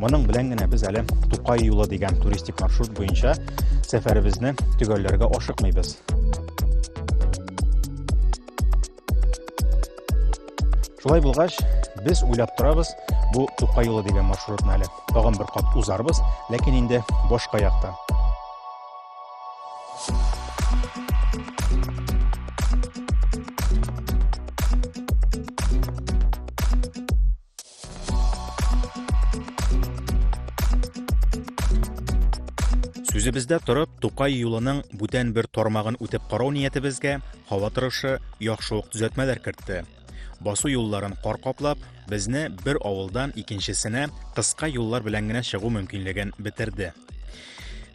Моның белән генә без әле Тукай юлы дигән туристик маршрут буенча сәфәребезне төгәлләргә ашыкмыйбыз. Шулай булгач, без уйлап торабыз, бу Тукай юлы дигән маршрутны әле тагын бер кат узарбыз, ләкин инде башка яктан. Үзебездә торып, Тукай юлының бүтән бер тармагын үтеп карау ниятебезгә һава торышы яхшы ук төзәтмәләр кертте. Басу юлларын кар каплап, безне бер авылдан икенчесенә кыска юллар белән генә чыгу мөмкинлеген бетерде.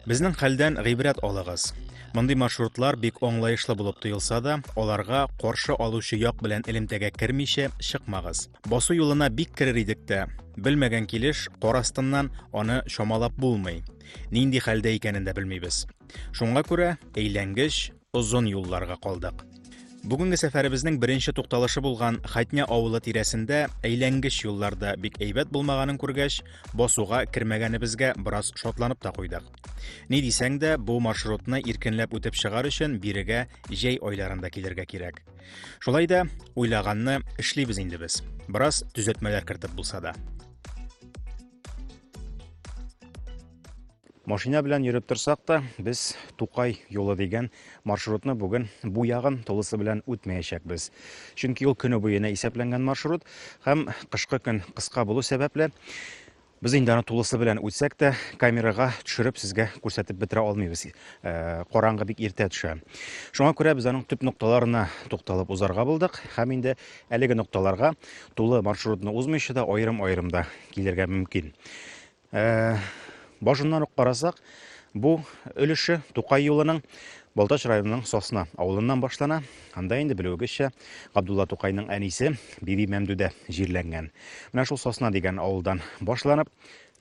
Безнең хәлдән гыйбрәт алыгыз. Мондый маршрутлар бик аңлаешлы булып тоелса да, аларга каршы алучы як белән элемтәгә кермичә чыкмагыз. Басу юлына бик керер идек тә, белмәгән килеш кар астыннан аны чамалап булмый. Нинди хәлдә икәнен дә белмибез. Шуңа күрә әйләнгеч, озын юлларга калдык. Бүгенге сәфәребезнең беренче тукталышы булган Хатня авылы тирәсендә әйләнгеч юлларда бик әйбәт булмаганын күргәч, басуга кермәгәнебезгә бераз шатланып та куйдык. Ни дисәң дә, бу маршрутны иркенләп үтеп чыгар өчен бирегә җәй айларында килергә кирәк. Шулай да уйлаганны эшлибез инде без. Бераз төзәтмәләр кертеп булса да. Машина белән йөреп торсак та, без Тукай юлы дигән маршрутны бүген бу ягын тулысы белән үтмәячәкбез. Чөнки ул көне буена исәпләнгән маршрут һәм кышкы көн кыска булу сәбәпле, без инде аны тулысы белән үтсәк тә, камерага төшереп сезгә күрсәтеп бетерә алмыйбыз. Э, караңгы бик иртә төшә. Шуңа күрә без аның төп нокталарына тукталып узарга булдык һәм инде әлеге нокталарга тулы маршрутны узмыйча да аерым-аерым да килергә мөмкин. Э, башыннан ук карасак, бу өлеше Тукай юлының Балтач районының Сосна авылыннан башлана. Анда инде белүегезчә Габдулла Тукайның әнисе Биби Мәмдүдә җирләнгән. Менә шул Сосна дигән авылдан башланып,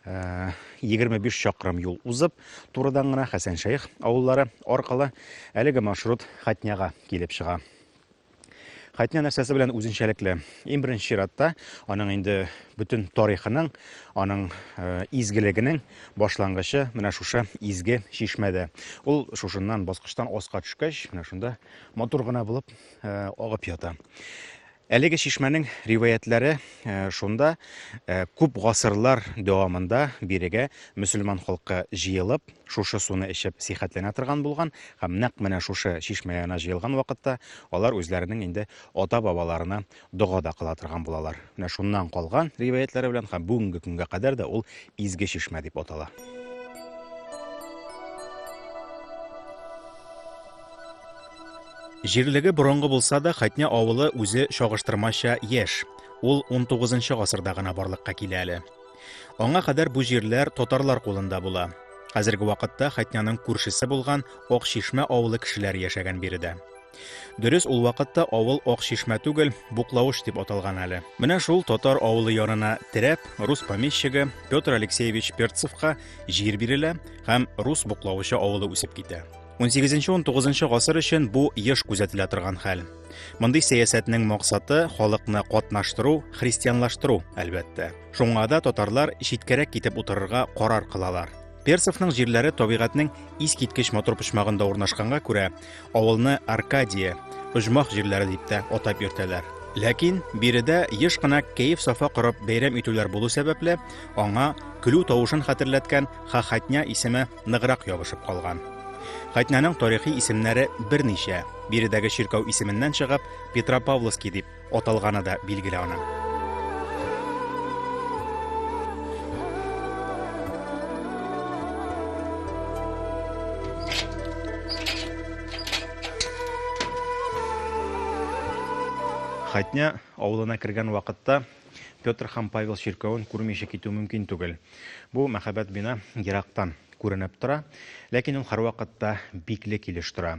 25 э, чакрым юл узып, турыдан гына Хәсән Шәйх авыллары аркылы әлеге маршрут Хатняга килеп чыга. Хәтнә нәрсәсе белән үзенчәлекле? Иң беренче чиратта аның инде бөтен тарихының, аның э, изгелегенең башлангычы менә шушы изге чишмәдә. Ул шушыннан баскычтан аска төшкәч, менә шунда матур гына булып э, агып ята. Әлеге чишмәнең риваятләре э, шунда күп гасырлар дәвамында бирегә мөселман халкы җыелып, шушы суны эчеп сихәтләнә торган булган Һәм нәкъ менә шушы чишмә янына җыелган вакытта алар үзләренең инде ата-бабаларына дога да кыла торган булалар. Менә шуннан калган риваятьләре белән һәм бүгенге көнгә кадәр дә ул Изге чишмә дип атала. Җирлеге борынгы булса да, Хәтнә авылы үзе чагыштырмача яшь. Ул 19 нчы гасырда гына барлыкка килә әле. Аңа кадәр бу җирләр татарлар кулында була. Хәзерге вакытта Хәтняның күршесе булган Акчишмә авылы кешеләре яшәгән биредә. Дөрес, ул вакытта авыл Акчишмә түгел, Буклавыш дип аталган әле. Менә шул татар авылы янына терәп, рус помещигы Петр Алексеевич Перцевка җир бирелә һәм рус Буклавычы авылы үсеп китә. 18-19 гасыр өчен бу еш күзәтелә торган хәл. Мондый сәясәтнең максаты халыкны катнаштыру, христианлаштыру, әлбәттә. Шуңа да татарлар читкәрәк китеп утырырга карар кылалар. Персовның җирләре табигатьнең искиткеч матур почмагында урнашканга күрә, авылны Аркадия, оҗмах җирләре дип тә атап йөртәләр. Ләкин биредә еш кына кәеф сафа корып бәйрәм итүләр булу сәбәпле, аңа көлү тавышын хәтерләткән Хахатня исеме ныграк ябышып калган. Кайтнәнең тарихи исемнәре берничә, биредәге чиркәү исеменнән чыгып, Петропавловский дип аталганы да билгеле аның. Хатня авылына кергән вакытта Петр һәм Павел чиркәвен күрмичә китү мөмкин түгел. Бу мәхәббәт бина ерактан күренеп тора, ләкин ул һәрвакытта бикле килеш тора.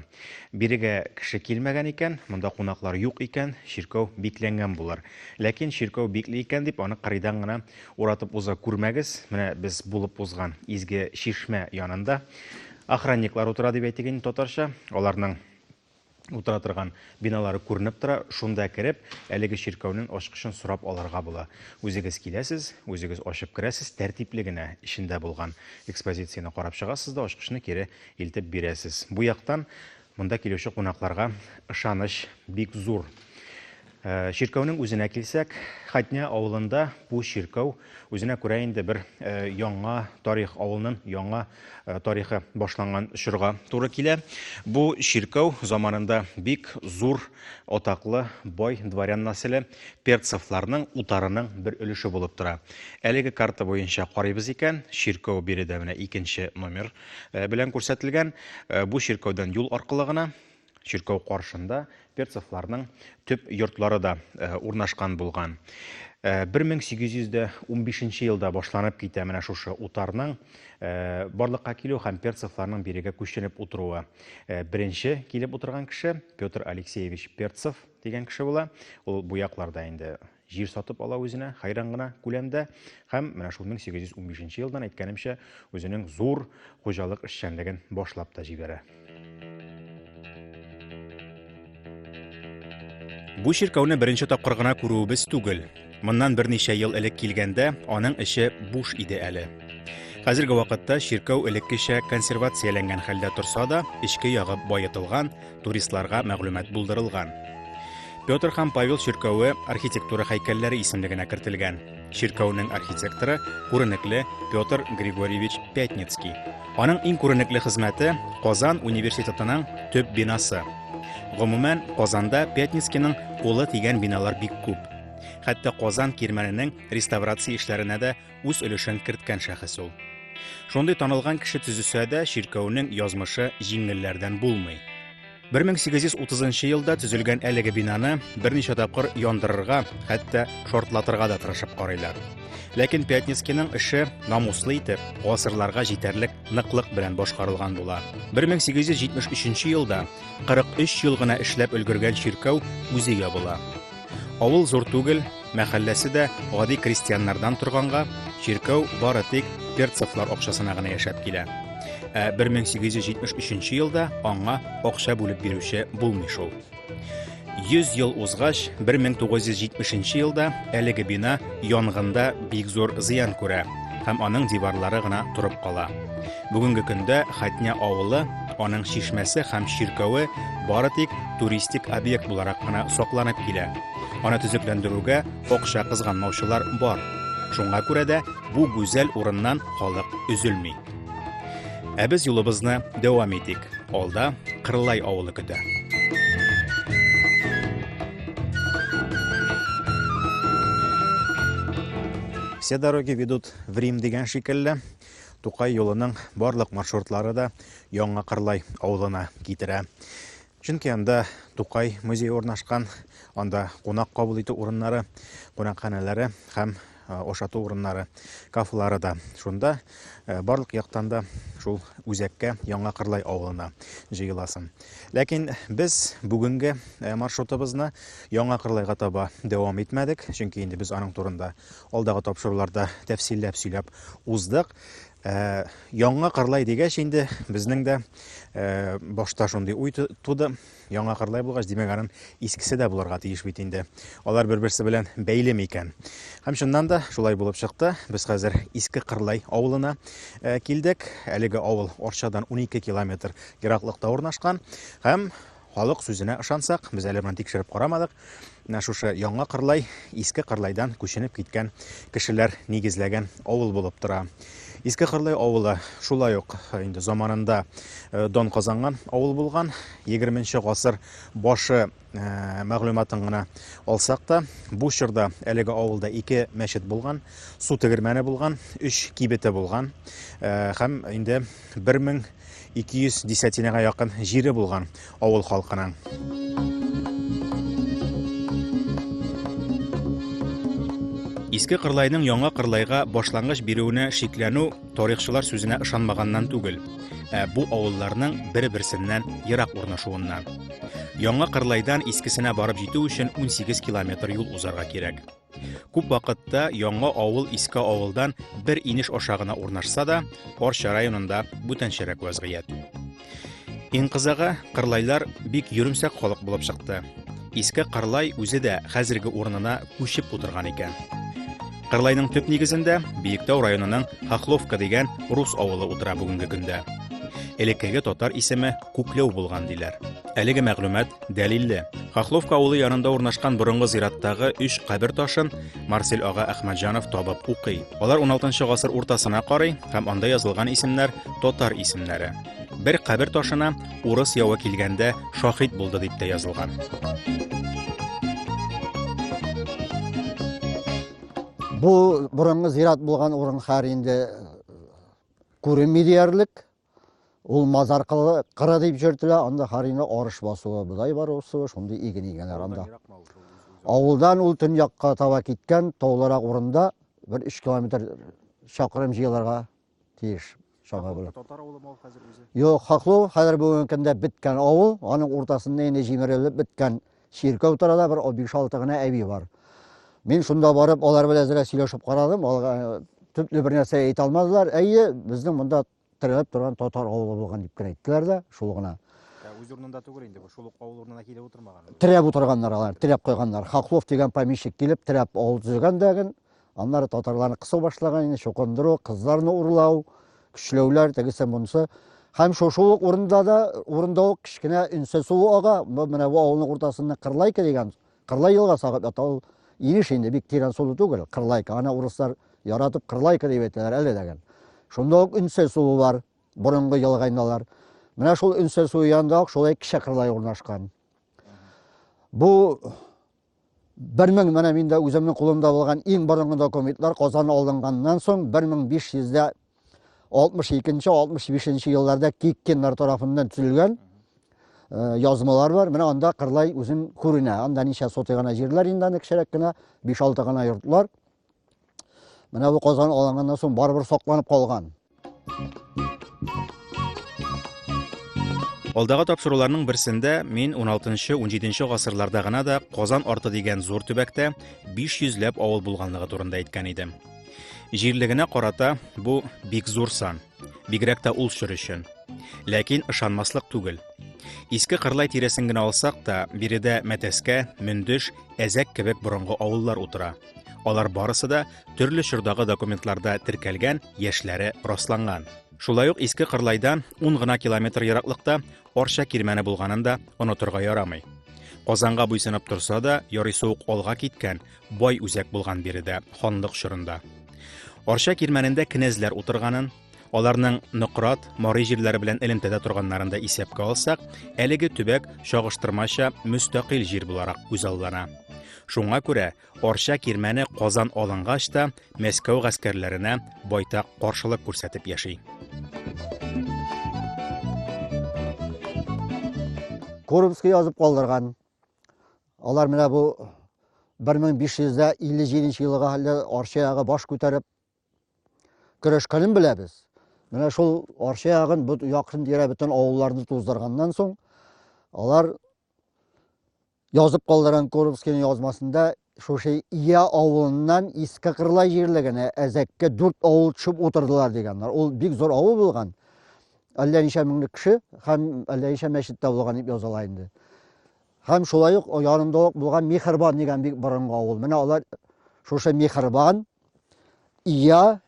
Бирегә кеше килмәгән икән, монда кунаклар юк икән, чиркәү бикләнгән булыр. Ләкин чиркәү бикле икән дип аны кырыйдан гына уратып уза күрмәгез. Менә без булып узган изге чишмә янында охранниклар утыра дип әйтик инде татарча. Аларның утыра торган биналары күренеп тора. Шунда кереп, әлеге чиркәүнең ачкычын сорап алырга була. Үзегез киләсез, үзегез ачып керәсез, тәртипле генә эчендә булган экспозицияне карап чыгасыз да ачкычны кире илтеп бирәсез. Бу яктан монда килүче кунакларга ышаныч бик зур. Э, чиркәүнең үзенә килсәк, Хәтнә авылында бу чиркәү үзенә күрә инде бер э, яңа тарих, авылның яңа э, тарихы башланган чорга туры килә. Бу чиркәү заманында бик зур атаклы бай дворян нәселе Перцевларның утарының бер өлеше булып тора. Әлеге карта буенча карыйбыз икән, чиркәү биредә менә икенче номер белән күрсәтелгән. Бу чиркәүдән юл аркылы гына Чиркәү каршында перцевларның төп йортлары да э, урнашкан булган. 1815 э, елда башланып китә менә шушы утарның э, барлыкка килү һәм перцевларның бирегә күченеп утыруы. Э, беренче килеп утырган кеше Петр Алексеевич Перцев дигән кеше була. Ул бу якларда инде җир сатып ала үзенә хәйран гына күләмдә һәм менә шул 1815 елдан әйткәнемчә үзенең зур хуҗалык эшчәнлеген башлап та җибәрә. Бу чиркәүне беренче тапкыр гына күрүебез түгел. Моннан берничә ел элек килгәндә, аның эче буш иде әле. Хәзерге вакытта чиркәү элеккечә консервацияләнгән хәлдә торса да, эчке ягы баетылган, туристларга мәгълүмат булдырылган. Петр һәм Павел чиркәве архитектура һәйкәлләре исемлегенә кертелгән. Чиркәүнең архитекторы күренекле Петр Григорьевич Пятницкий. Аның иң күренекле хезмәте Казан университетының төп бинасы. Гомумән, Казанда Пятницкийның кулы тигән биналар бик күп. Хәтта Казан кирмәненең реставрация эшләренә дә үз өлешен керткән шәхес ул. Шундый танылган кеше төзесә дә, чиркәүнең язмышы җиңелләрдән булмый. 1830 елда төзелгән әлеге бинаны берничә тапкыр яндырырга, хәтта шортлатырга да тырышып карыйлар. Ләкин Пятницкийның эше намуслы итеп, гасырларга җитәрлек ныклык белән башкарылган була. 1873 елда 43 ел гына эшләп өлгергән чиркәү үзе ябыла. Авыл зур түгел, мәхәлләсе дә гади крестьяннардан торганга, чиркәү бары тик перцевлар акчасына гына яшәп килә. Ә 1873 елда аңа акча бүлеп бирүче булмый шул. 100 ел узгач, 1970 елда әлеге бина янгында бик зур зыян күрә һәм аның диварлары гына торып кала. Бүгенге көндә Хәтня авылы, аның чишмәсе һәм чиркәве бары тик туристик объект буларак кына сакланып килә. Аны төзекләндерүгә акча кызганмаучылар бар. Шуңа күрә дә бу гүзәл урыннан халык өзелми. Ә без юлыбызны дәвам итик. Алда Кырлай авылы көтә. Все дороги ведут в Рим дигән шикелле. Тукай юлының барлык маршрутлары да Яңа Кырлай авылына китерә. Чөнки анда Тукай музее урнашкан, анда кунак кабул итү урыннары, кунакханәләре һәм ошату урыннары, кафелары да шунда. Барлык яктан да шул үзәккә Яңа Кырлай авылына җыеласың. Ләкин без бүгенге маршрутыбызны Яңа Кырлайга таба дәвам итмәдек, чөнки инде без аның турында Алдагы тапшыруларда тәфсилләп сөйләп уздык. Ә, яңа кырлай дигәч инде безнең дә ә, башта шундый уй туды. Яңа кырлай булгач, димәк, аның искесе дә булырга тиеш бит инде. Алар бер-берсе белән бәйле микән? Һәм чыннан да шулай булып чыкты. Без хәзер Иске Кырлай авылына ә, килдек. Әлеге авыл Арчадан 12 километр ераклыкта урнашкан һәм Халык сүзенә ышансак, без әле моны тикшереп карамадык, менә шушы Яңа Кырлай Иске Кырлайдан күченеп киткән кешеләр нигезләгән авыл булып тора. Иске Кырлай авылы шулай ук э, инде заманында э, дан казанган авыл булган. 20 гасыр башы э, мәгълүматын гына алсак та, бу чорда әлеге авылда ике мәчет булган, су тегермәне булган, өч кибете булган һәм инде 1000 200 десятинага якын җире булган авыл халкының. Иске Кырлайның яңа Кырлайга башлангыч бирүенә шикләнү тарихчылар сүзенә ышанмаганнан түгел, ә бу авылларның бер-берсеннән ерак урнашуыннан. Яңа Кырлайдан искесенә барып җитү өчен 18 километр юл узарга кирәк. Күп вакытта яңа авыл иске авылдан бер инеш аша гына урнашса да, Арча районында бүтәнчәрәк вазгыять. Инкызага кырлайлар бик йөремсәк халык булып чыкты. Иске Кырлай үзе дә хәзерге урынына күчеп утырган икән. Кырлайның төп нигезендә Биектау районының Хохловка дигән рус авылы утыра бүгенге көндә. Элеккеге татар исеме Күкләү булган диләр. Әлеге мәгълүмат Дәлилле. Хохловка авылы янында урнашкан борынгы зираттагы өч кабер ташын Марсель ага Әхмәтҗанов табып укый. Алар 16 гасыр уртасына карый һәм анда язылган исемнәр татар исемнәре. Бер кабер ташына урыс явы килгәндә шахид булды дип тә язылган. Бу борынгы зират булган урын хәр инде күренми диярлек. Ул мазар кыры дип җөртелә, анда харина арыш басуы, бодай бар усуы, шундый иген игәләр анда. Авылдан ул төньякка таба киткән тауларак урында бер 3 километр чакрым җыелырга тиеш. Шага булып. Татар авылы мал хәзер үзе. Юк, Хаклу хәзер бүгенге көндә беткән авыл, аның уртасында инде җимерелеп беткән Чиркәү тирәдә бер о- биш-алты гына әби бар. Мин шунда барып, алар белән әзрәк сөйләшеп карадым. Алар э, төпле бер нәрсә әйтә алмадылар. Әйе, безнең монда терәлеп торган татар авылы булган дип кенә әйттеләр дә, шул гына. Ә үз урынында түгел инде бу, шул ук авыл урынына килеп утырмаган. Терәп утырганнар алар, терәп куйганнар. Хаклов дигән помещик килеп, терәп авыл төзегән дәген, Аннары татарларны кысу башлаган инде, чукындыру, кызларны урлау, көчләүләр, тегесе монысы. Һәм шушы ук урында да, урында ук кечкенә Инсе суы ага, бу менә бу авылның уртасында Кырлайка дигән, Кырлай елга сагып ята ул. Инеш инде бик тирән сулы түгел, Кырлайка. Аны урыслар яратып Кырлайка дип әйтәләр әле дәген. Шунда ук Инсе суы бар, борынгы елга инде алар. Менә шул Инсе суы янында ук шулай кече Кырлай урнашкан. Бу Бер мең, менә мин дә үземнең кулымда булган иң борынгы документлар Казан алынганнан соң 1562-65 елларда Киккиннар тарафыннан төзелгән э, язмалар бар. Менә анда Кырлай үзен күренә. Анда ничә сотый гына җирләр инде аны кечерәк кенә, 5-6 гына йортлар. Менә бу казан алынганнан соң барыбер сакланып калган. Алдагы тапшыруларның берсендә мин 16-17 гасырларда гына да Казан арты дигән зур төбәктә 500 ләп авыл булганлыгы турында әйткән идем. Җирлегенә карата бу бик зур сан, бигрәк тә ул чор өчен. Ләкин ышанмаслык түгел. Иске Кырлай тирәсен генә алсак та, биредә Мәтәскә, Мөндеш, Әзәк кебек борынгы авыллар утыра. Алар барысы да төрле чордагы документларда теркәлгән, яшьләре расланган. Шулай ук Иске Кырлайдан 10 гына километр ераклыкта Арча кирмәне булганын да онытырга ярамый. Казанга буйсынып торса да, ярый суык алга киткән, бай үзәк булган биредә, ханлык чорында. Арча кирмәнендә кенәзләр утырганын, Аларның Нократ, Марый җирләре белән элемтәдә торганнарын да исәпкә алсак, әлеге төбәк чагыштырмача мөстәкыйль җир буларак күзаллана. Шуңа күрә Арча кирмәне Казан алынгач та Мәскәү гаскәрләренә байтак каршылык күрсәтеп яши. Курбский язып калдырган. Алар менә бу 1557 елга хәлле Арча ягы баш күтәреп көрәшкәнен беләбез. Менә шул Арча ягын, бу якын тирә бөтен авылларны туздырганнан соң, алар язып калдырган Куровскийның язмасында шушы Ия авылыннан Иске Кырлай җирлегенә әзәккә дүрт авыл төшеп утырдылар дигәннәр. Ул бик зур авыл булган. Әллә ничә меңлек кеше һәм әллә ничә мәчет тә булган дип языла инде. Һәм шулай ук янында ук булган Михербан дигән бик борынгы авыл. Менә алар шушы Михербан Ия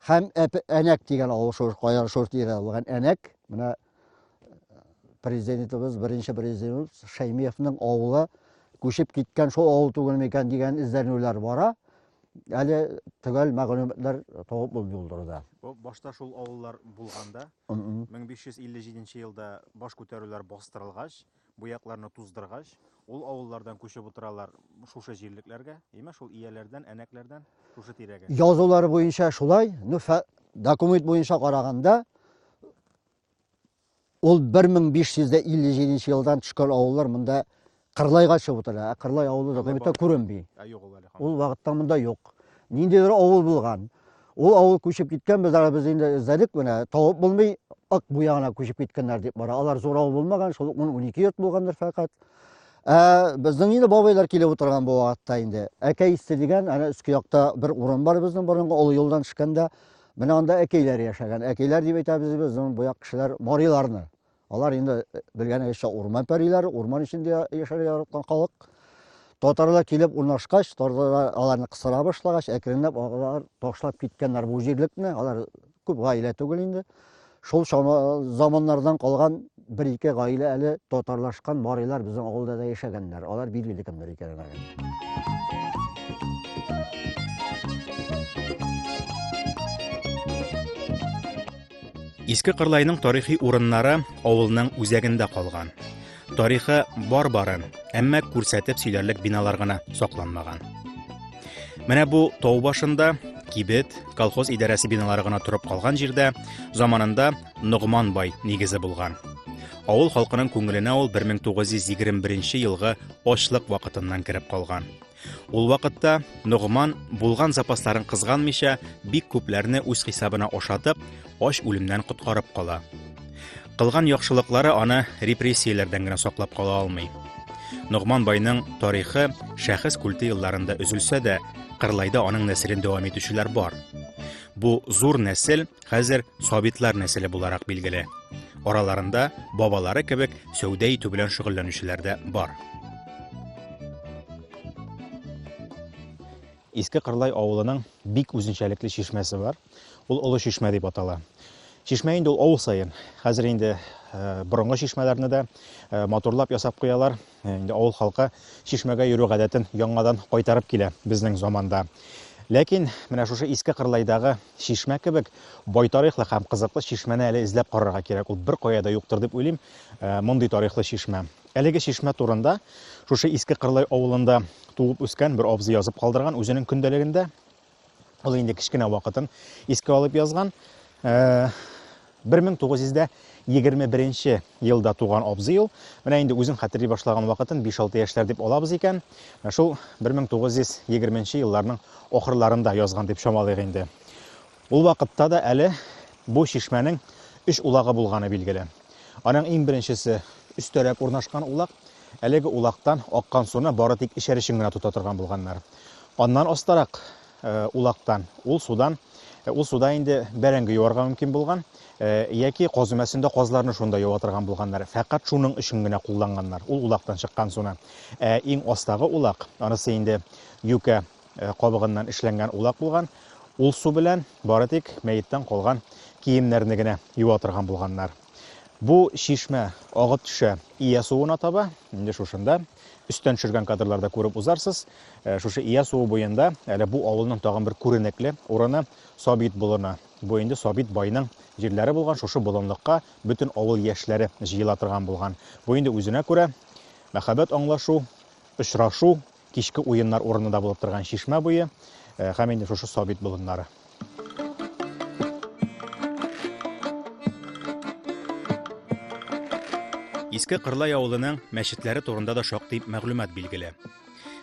һәм әнәк дигән авыл шур, каян шур диелә булган әнәк. Менә президентыбыз, беренче президентыбыз Шәймиевның авылы күчеп киткән шул авыл түгел микән дигән эзләнүләр бара. Әле төгәл мәгълүматлар табып булмый ул Башта шул авыллар булганда, 1557 елда баш күтәрүләр бастырылгач, Буякларны туздыргач, ул авыллардан күчеп утыралар шушы җирлекләргә, имә шул ияләрдән, әнәкләрдән, шушы тирәгә. Язулары буенча шулай, ну, документ буенча караганда, ул 1557 елдан төшкән авыллар монда Кырлайга чыгып утыра. Ә Кырлай авылы документта күренми. Ул вакытта монда юк. Ниндидер авыл булган. Ул авыл күчеп киткән, без ара без инде эзләдек, менә табып булмый, Ак буягына күчеп киткәннәр дип бара. Алар зур авыл булмаган, шул 10-12 йорт булгандыр фәкать. Ә безнең инде бабайлар килеп утырган бу вакытта инде. Әкәй исте дигән, ана өске якта бер урын бар безнең борынгы олы юлдан төшкәндә, менә анда әкәйләр яшәгән. Әкәйләр дип әйтәбез безнең бу як кешеләр мариларны. Алар инде белгәнегезчә урман пәриләре, урман эчендә яшәргә яраткан халык. Татарлар килеп урнашкач, татарлар аларны кысыра башлагач, әкренләп алар ташлап киткәннәр бу җирлекне. Алар күп гаилә түгел инде. Шул заманнардан калган бер-ике гаилә әле татарлашкан барыйлар безнең авылда да яшәгәннәр. Алар билгеле кемнәр икәнен. Иске Кырлайның тарихи урыннары авылның үзәгендә калган. Тарихы бар барын, әмма күрсәтеп сөйләрлек биналар гына сакланмаган. Менә бу тау башында кибет, колхоз идарәсе биналары гына торып калган җирдә заманында Ногман бай нигезе булган. Авыл халкының күңеленә ул 1921 елгы очлык вакытыннан кереп калган. Ул вакытта Ногман булган запасларын кызганмыйча, бик күпләрне үз хисабына ашатып, ач үлемнән коткарып кала. Кылган яхшылыклары аны репрессияләрдән генә саклап кала алмый. Ногман байның тарихы шәхес культы елларында өзелсә дә, Кырлайда аның нәселен дәвам итүчеләр бар. Бу зур нәсел Хәзер сабитлар нәселе буларак билгеле. Араларында бабалары кебек сәүдә итү белән шөгыльләнүчеләр дә бар. Иске Кырлай авылының бик үзенчәлекле чишмәсе бар. Ул Олы чишмә дип атала. Чишмә инде ул авыл саен. Хәзер инде борынгы чишмәләрне дә матурлап ясап куялар. Инде авыл халкы чишмәгә йөрү гадәтен яңадан кайтарып килә безнең заманда. Ләкин менә шушы иске Кырлайдагы чишмә кебек бай тарихлы һәм кызыклы чишмәне әле эзләп карарга кирәк. Ул бер кая да юктыр дип уйлыйм, э, мондый тарихлы чишмә. Әлеге чишмә турында шушы иске Кырлай авылында туып үскән бер абзый язып калдырган үзенең көндәлегендә. Ул инде кечкенә вакытын искә алып язган. 1921 елда туган абзый ул. Менә инде үзен хәтерли башлаган вакытын 5-6 яшьләр дип алабыз икән. Менә шул 1920 елларның ахырларында язган дип чамалыйк инде. Ул вакытта да әле бу чишмәнең өч улагы булганы билгеле. Аның иң беренчесе өстәрәк урнашкан улак. Әлеге улактан аккан суны бары тик эчәр өчен генә тота торган булганнар. Аннан астарак улактан, ул судан, ул суда инде бәрәңге юарга мөмкин булган, яки каз өмәсендә казларны шунда юа торган булганнар. Фәкать шуның өчен генә кулланганнар ул улактан чыккан суны. Ә иң астагы улак, анысы инде юкә кабыгыннан эшләнгән улак булган. Ул су белән бары тик мәеттән калган киемнәрне генә юа торган булганнар. Бу чишмә агып төшә Ия суына таба. Инде шушында өстән төшергән кадрларда күреп узарсыз. Э, шушы Ия суы буенда әле бу авылның тагын бер күренекле урыны Сабит болыны. Бу инде Сабит байның җирләре булган шушы болынлыкка бөтен авыл яшьләре җыела торган булган. Бу инде үзенә күрә мәхәббәт аңлашу, очрашу Кичке уеннар урыны да булып торган чишмә буе һәм инде шушы Сабит болыннары. Иске Кырлай авылының мәчетләре турында да шактый мәгълүмат билгеле.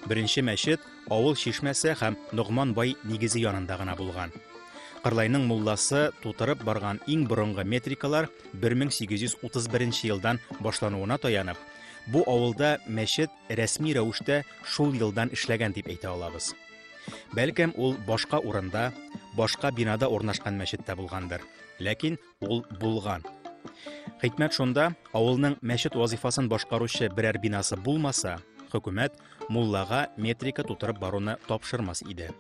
Беренче мәчет авыл чишмәсе һәм Ногман бай нигезе янында гына булган. Кырлайның мулласы тутырып барган иң борынгы метрикалар 1831 елдан башлануына таянып, бу авылда мәчет рәсми рәвештә шул елдан эшләгән дип әйтә алабыз. Бәлкем ул башка урында, башка бинада урнашкан мәчеттә булгандыр, ләкин ул булган. Хикмәт шунда, авылның мәчет вазифасын башкаручы берәр бинасы булмаса, хөкүмәт муллага метрика тутырып баруны тапшырмас иде.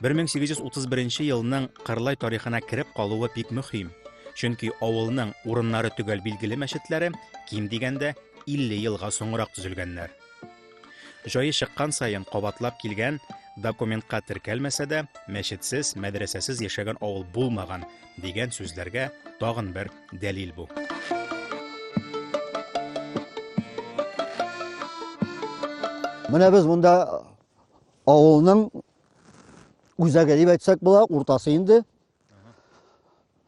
1831 елның Кырлай тарихына кереп калуы бик мөһим, чөнки авылның урыннары төгәл билгеле мәчетләре ким дигәндә 50 елга соңрак төзелгәннәр. Җае чыккан саен кабатлап килгән, документка теркәлмәсә дә, мәчетсез, мәдрәсәсез яшәгән авыл булмаган дигән сүзләргә тагын бер дәлил бу. Менә без монда авылның үзәге дип әйтсәк була, уртасы инде.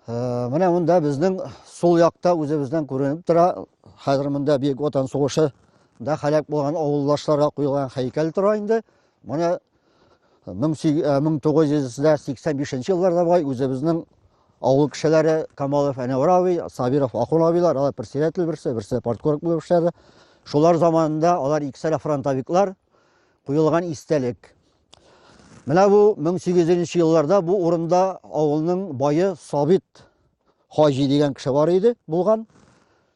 Ә, менә монда безнең сул якта үзебездән күренеп тора. Хәзер монда Бөек Ватан сугышы да һәлак булган авылдашларга куелган һәйкәл тора инде. Моны 1985 э, елларда бай үзебезнең авыл кешеләре Камалов Әнәвар абый, Сабиров Ахун абыйлар, алар председатель берсе, берсе парткорк булып эшләде. Шулар заманында алар икесәлә фронтовиклар куелган истәлек. Менә бу 1800 елларда бу урында авылның бае Сабит Хаҗи дигән кеше бар иде, булган.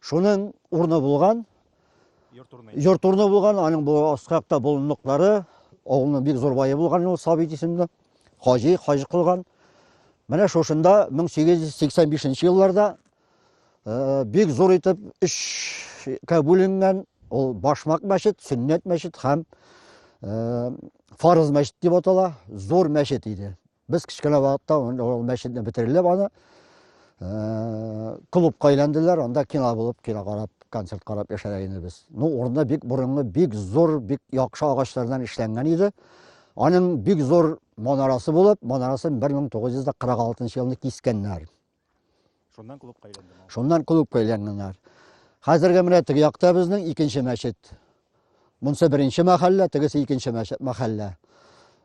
Шуның урны булган. Йорт урны булган, аның бу астракта болынлыклары, авылның бик зур бае булган ул Сабит исемле. Хаҗи, хаҗи кылган. Менә шушында 1885 елларда Э, бик зур итеп өчкә бүленгән. Ул башмак мәчет, сөннәт мәчет һәм э, фарыз мәчет дип атала. Зур мәчет иде. Без кечкенә вакытта ул мәчетне бетерелеп аны э, клубка әйләнделәр, анда кино булып, кино карап, концерт карап яшәгән иде без. Ну, урында бик борынгы, бик зур, бик яхшы агачлардан эшләнгән иде. Аның бик зур манарасы булып, манарасын 1946 елны кискәннәр. Шуннан клубка әйләнде. Шуннан клубка әйләнгәннәр. Хәзерге менә теге якта безнең икенче мәчет. Монсы беренче мәхәллә, тегесе икенче мәхәллә.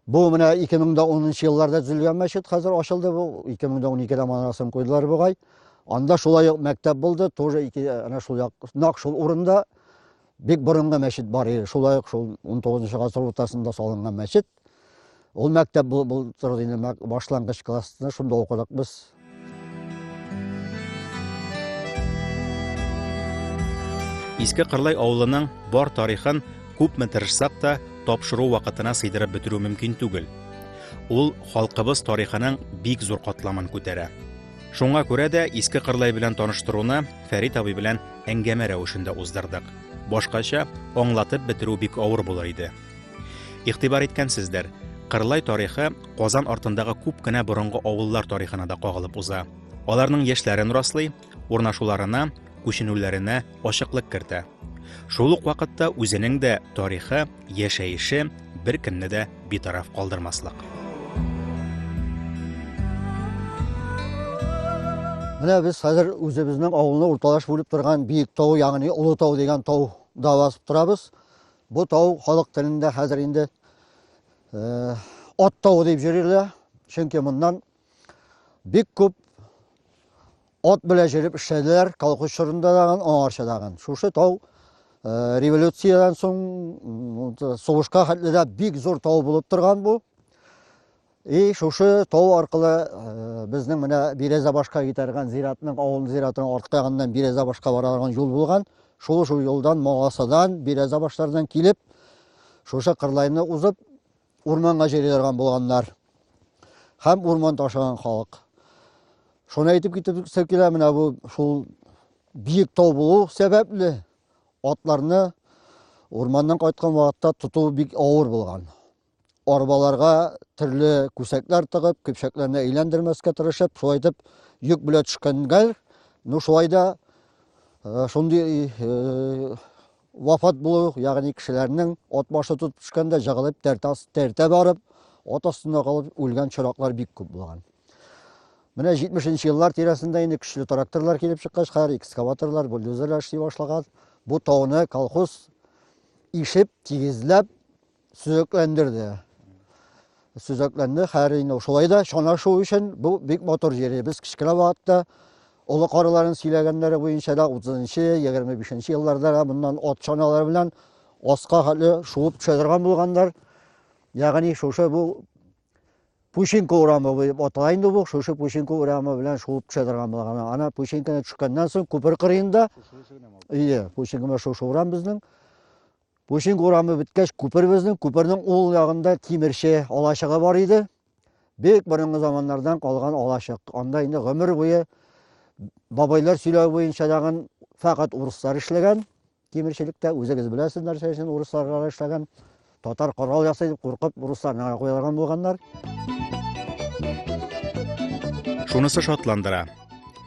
Бу менә 2010 елларда төзелгән мәчет хәзер ачылды бу. 2012-дә манарасын куйдылар бугай. Анда шулай ук мәктәп булды, тоже ике ана шул як, нак шул урында бик борынгы мәчет бар иде. Шулай ук шул 19 гасыр уртасында салынган мәчет. Ул мәктәп бу бу торды инде башлангыч классны шунда укыдык без. Иске Кырлай авылының бар тарихын күпме тырышсак та тапшыру вакытына сыйдырып бетерү мөмкин түгел. Ул халкыбыз тарихының бик зур катламын күтәрә. Шуңа күрә дә Иске Кырлай белән таныштыруны Фәрит абый белән әңгәмә рәвешендә уздырдык. Башкача аңлатып бетерү бик авыр булыр иде. Игътибар иткәнсездер, Кырлай тарихы Казан артындагы күп кенә борынгы авыллар тарихына да кагылып уза. Аларның яшьләрен раслый, урнашуларына, күченүләренә ачыклык кертә. Шул ук вакытта үзенең дә тарихы, яшәеше беркемне дә битараф калдырмаслык. Менә без хәзер үзебезнең авылны урталаш бүлеп торган биек тау, ягъни Олы тау дигән тау да басып торабыз. Бу тау халык телендә хәзер инде ат тавы дип йөрилә, чөнки моннан бик күп ат белә җөреп эшләделәр, колхоз чорында дагын, аңарча дагын. Шушы тау революциядән соң сугышка хәтле дә бик зур тау булып торган бу. И шушы тау аркылы безнең менә Бирәзәбашка китәргән зиратның, авылның зиратының арткы ягыннан Бирәзәбашка бара торган юл булган. Шул шул юлдан Могасадан, Бирәзәбашлардан килеп, шушы кырлайны узып, урманга җыри торган булганнар. Һәм урман ташыган халык. Шуны әйтеп китәсе килә, менә бу шул биек тау булу сәбәпле атларны урманнан кайткан вакытта тоту бик авыр булган. арбаларга төрле күсәкләр тыгып, көпшәкләрне әйләндермәскә тырышып, шулай итеп йөк белән төшкәнгәләр. Ну шулай да э, шундый э, вафат булу, ягъни кешеләрнең ат башы тотып төшкәндә җыгылып тәртә барып, ат астында калып үлгән чораклар бик күп булган. Менә 70 еллар тирәсендә инде көчле тракторлар килеп чыккач, хәзер экскаваторлар, бульдозерлар эшли башлаган. Бу тауны колхоз ишеп, тигезләп, сөзәкләндерде. Сөзәкләнде, хәер инде шулай да чанашу өчен бу бик матур җир. Без кечкенә вакытта олы карыларын сөйләгәннәре буенча да 30-нчы, 25-нче елларда да моннан ат чаналары белән аска хәтле шуып төшә торган булганнар. Ягъни шушы бу Пущенко урамы дип атала инде бу, шушы Пущенко урамы белән шуып төшә торган булган. Ана Пущенконы төшкәннән соң күпер кырыенда, ие, Пущенкома шушы урам безнең. Пушинг урамы беткәч, күпер безнең, күпернең ул ягында тимерче алачыгы бар иде. Бик борынгы заманнардан калган алачык. Анда инде гомер буе бабайлар сөйләве буенча дагын фәкать урыслар эшләгән тимерчелектә. Үзегез беләсез нәрсә өчен урыслар эшләгән. Татар корал ясый дип куркып урысларны куялган булганнар. Шунысы шатландыра.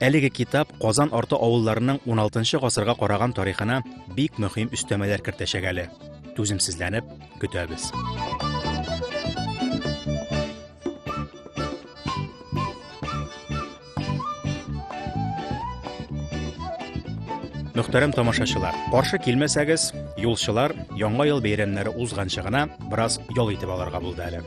Әлеге китап Казан арты авылларының 16 гасырга караган тарихына бик мөһим өстәмәләр кертәчәк әле. Түземсезләнеп көтәбез. Мөхтәрәм тамашачылар, каршы килмәсәгез, юлчылар яңа ел бәйрәмнәре узганчы гына бераз ял итеп алырга булды әле.